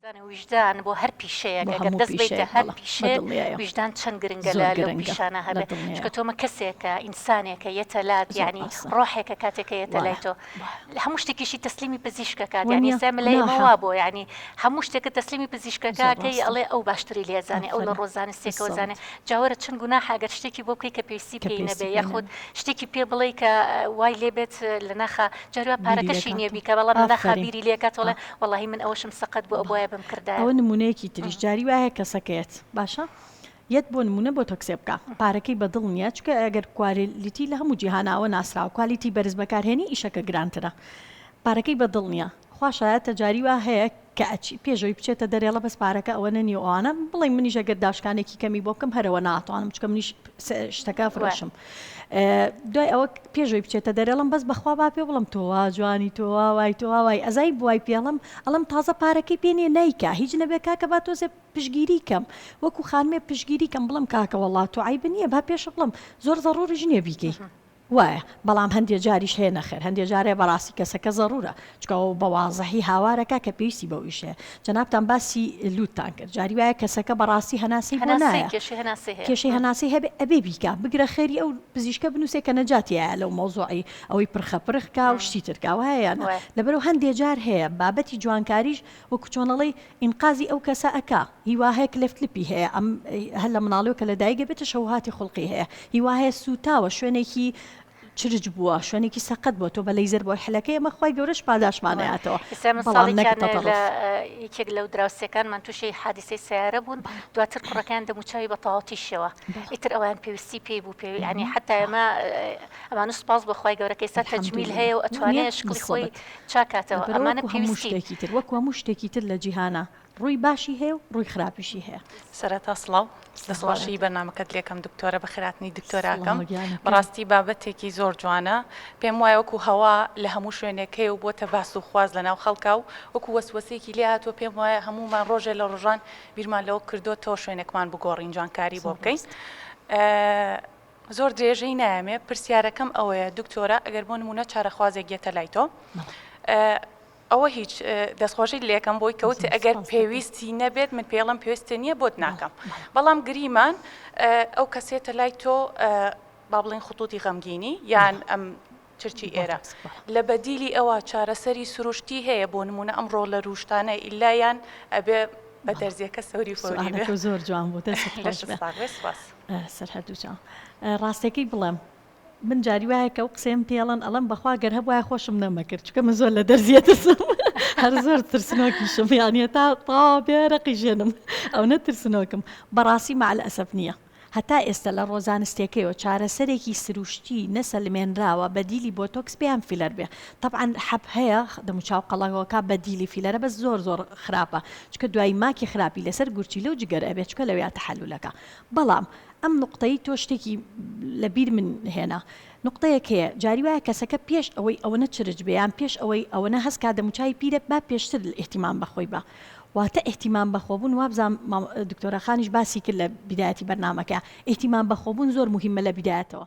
دان ویژدان بۆ هەر پیشەیەک ئەگەر دەست بەیتە هەر پیشەیە ویژدان چەند گرنگە لە لەو پیشانە هەبێ چکە تۆمە کەسێکە ئینسانێکە یەتە لات یعنی ڕۆحێکە کاتێکە یەتە لای تۆ لە هەموو شتێکیشی تەسلیمی پزیشکەکە یعنی سای ملەیەوە بۆ یعنی هەموو شتێکە تەسلیمی پزیشکەکەکەی ئەڵێ ئەو باشتری لێزانێ ئەو لە ڕۆزانە سێکەوە زانێ جاوەرە چەند گونا حاگەر شتێکی بۆ بکەی کە پێویستی پێی نەبێ یاخود شتێکی پێ بڵێ کە وای لێبێت لە ناخە جاروا پارەکەشی نییە بیکە بەڵام ناخابیری لێکاتەوەڵێ وەڵاهی من ئەوەشم سەقەت بوو ئەبوایە بم کردایە. ئەوە نمونەیەکی تریش جاری وایە کەسەکە یەت باشە یەت بۆ نمونە بۆ تۆ کسێ بکا پارەکەی بەدڵ نییە چکە گەر کوالێتی لە هەموو جیهاناوە ناسراوە کوالیتی بەرز بەکارهێنی ئیشەکە گرانترە پارەکەی بەدڵ نییە خوا شایەتە جاری وا هەیە کە ئەچی پێشەوەی بچێتە دەرێ ئەڵێ بەس پارەکە ئەوەنە نییە و ئەوانە بڵێ منیش ئەگەر داشکانێکی کەمی بۆ بکەم هەرەوە ناتوانم چکە منیش شتەکە فرۆشم دوای ئەوە پێش ئەوەی بچێتە دەرێ ئەڵێم بەس بەخوا با پێ بڵێم تۆ وا جوانی تۆ وا وای تۆ وا وای ئەزای بوای پێ ئەڵێم ئەڵێم تازە پارەکەی پێ نییە نایکا هیچ نەبێ کاکە با تۆزێ پشتگیری کەم وەکو خانمێ پشتگیری کەم بڵێم کاکە وەڵڵا تۆ عەیب نییە با پێش بڵێم زۆر زەڕووریش نییە بیکەی وایە بەڵام هەندێ جاریش هەیە نەخێر هەندێ جارێ بەڕاستی کەسەکە زەڕوورە چونکە ئەو بە وازحی هاوارەکە کە پێویستی بەو ئیشەیە. جەنابتان باسی لووتتان کرد. جاری وایە کەسەکە بە ڕاستی هەناسەی بۆ نایە. هەناسەی، کێشەی هەناسەی هەیە. کێشەی هەناسەی هەبێ ئەبێ بیکا. بگرە خێری ئەو پزیشکە بنووسێ کە نەجاتی یایە لەو مەوزوعەی ئەوەی پرخە پرخ کا و شتی تر کا. وایە یا نا؟ وایە. لەبەرو هەندێ جار هەیە بابەتی جوانکاریش وەکو چۆن ئەڵێی ئینقازی ئەو کەسە ئەکا. هی وا هەیە کلفت لپی هەیە. ئەم هەر لە مناڵیەوە کە لە دایک ئەبێ تەشەوهاتی خوڵقی هەیە. هی وا هەیە سووتاوە شوێنێکی چرچ بووە شوێنێکی سەقەت بووە تۆ بە لەیزەر بۆی حلەکەی ئەمە خوای گەورەش پاداشمان نەیاتەوە ئیستا من بەڵام نەک ساڵێکیان لە تەتەڕف یەکێک لەو دراوسێکانمان تووشی حادیسەی سەیارە بوون بەڵێ دواتر کوڕەکەیان دەموچاوی بە تەواوەتی شێوە بەڵێ ئیتر ئەویان پێویستی پێی بوو پێوی یانی حەتا الحمدللە ئێمە ئە، ئەمانە سوپاس بۆ خوای گەورە کە ئیستا تەجمیل الحمدللە هەیە و دونیا ئەتوانێ شکڵی خۆی نسبەت چاک کاتەوە برا ئەمانە وەکوو هەموو پێویستی شتێکی تر وەکوو هەموو شتێکی تر لە جیهانا. ڕووی باشی هەیە و ڕووی خراپیشی هەیە. سەرەتا سڵاو دەستخۆشی بەرنامەکەت لێکەم دکتۆرە بەخێراتنی دکتۆراکەم بەڕاستی بابەتێکی زۆر جوانە پێم وایە وەکو هەوا لە هەموو شوێنێک هەیە و بۆتە باس و خواز لەناو خەڵکا و وەکو وەسوەسێکی لێ هاتووە پێم وایە هەموومان ڕۆژێ لە ڕۆژان بیرمان لەوە کردووە تۆ شوێنێکمان بگۆڕین جوانکاری بۆ بکەین زۆر درێژەی نایەمێ پرسیارەکەم ئەوەیە دکتۆرە ئەگەر بۆ نمونە چارەخوازێک گێتە لای تۆ ئەوە هیچ، دەستخۆشیت لێکەم بۆی کەوتی ئەگەر پێویستی نەبێت من پێڵم پێویستە نییە بۆت ناکەم بەڵام گریمان ئەو کەسێتە لای تۆ با بڵین خطوتی غەمگینی یان ئەم چرچی ئێرە لە بەدیلی ئەوە چارەسەری سروشتی هەیە بۆ نمونە ئەم ڕۆڵە روشتانە ئیلایان ئەبێ بە دەرزیەکە سەوری فۆری زۆر جوان بوو سەر هەردوو جا ڕاستەکەی بڵێم من جاری وایە کە ئەو قسەیەم پێ ئەڵێن ئەڵێم بەخوا گەر هەبوایە خۆشم نەمەکرد چونکە من زۆر لە دەرزیە ترسم هەر زۆر ترسنۆکیشم یان هێتا تاوا بێ رەقی ژێنم ئەونە ترسنۆکم بەڕاستی مەعەل ئەسەف نییە. هەتا ئێستە لە ڕۆزانستێکەیەوە چارەسەرێکی سروشتی نەسەلمێنراوە بەدیلی بۆتۆکس بێ یان فیلەر بێ تەبعەن حەپ هەیە دەموچاو قەڵەوەکە بەدیلی فیلەرە بەس زۆر زۆر خراپە چونکە دوای ماکی خراپی لەسەر گورچیلە و جگەر ئەبێت چونکە لەوێیا تەحەلولەکە بەڵام ئەم نوقتەی تۆ شتێکی لە بیر من هێنا. نوقتەیەک هەیە جاری وایە کەسەکە پێش ئەوەی ئەوەنە چرچ بێ یان پێش ئەوەی ئەوەنە هەست کا دەموچاوی پیرە با پێشتر ئیهتیمام بە خۆی با. واتە ئیهتیمام بە خۆبوون وابزام مام دکتۆرە خانیش باسی کرد لە بیدایەتی بەرنامەکە ئیهتیمام بە خۆبوون زۆر موهیمە لە بیدایەتەوە.